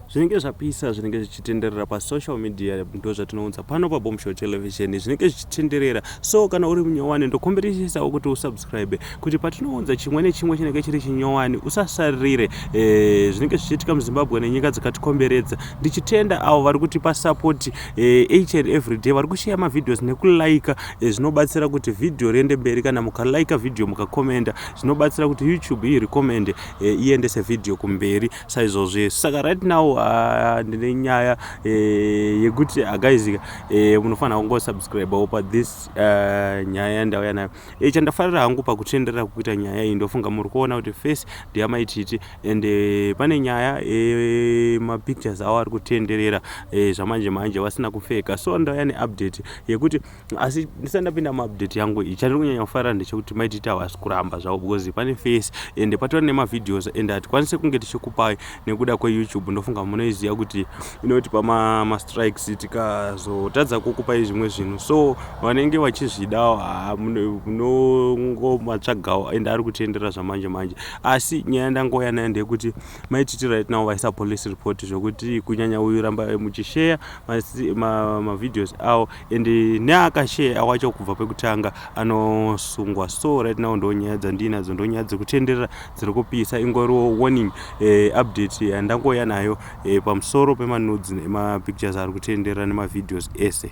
zvinenge zvapisa zvinenge zvichitenderera pasocial media ndo zvatinounza pano pabombshow television zvinenge zvichitenderera so kana uri munyowani ndokomberesesawo kuti usubscribe kuti patinounza chimwe nechimwe chinenge chiri chinyowani usasaririre e, zvinenge zvichiitika muzimbabwe nenyika dzakatikomberedza ndichitenda avo vari kutipa support e, each and every day vari kusheya mavhidhios nekulaika e, zvinobatsira kuti vhidhiyo riende mberi kana mukalaika vhidhiyo mukakomenda zvinobatsira kuti youtube irekomende e, iendese vhidhiyo kumberi saizvozvi saka right now ah, ndine nyaya eh, yekuti agaizika ah, eh, munofanira kungosubscribe opa this ah, nyaya yandauya nayo chandafarira hangu pakutenderera kukuita nyaya iyi ndofunga muri kuona kuti face ndeyamaititi and pane nyaya mapictures awo ari kutenderera zvamanje manje vasina kupfeka so ndauya neupdate yekuti asi ndisati ndapinda muupdate yangu iyi chandiri kunyanya kufarira ndechekuti maititi havasi kuramba zvavo because pane face ende patori nemavideos ende hatikwanise kunge tichikupai nekuda kweyoutube ndofunga munoiziva kuti inotipa mastrikes tikazotadza kukupai zvimwe zvinhu so vanenge vachizvidawo munongomatsvagawo ende ari kutendera zvamanje manje asi nyaya yandangouya nayo ndeyekuti maititi right now vaisa police report zvekuti kunyanya uyu rambai muchisheya mavideos avo and neakashare awacho kubva pekutanga anosungwa so right now ndonyaya dzandinadzo ndonyaya dzekutenderera dziri kupisa ingoriwo warning eh, update yandangoya nayo eh, pamusoro pemanudzi emapictures ari kutenderera nemavideos ese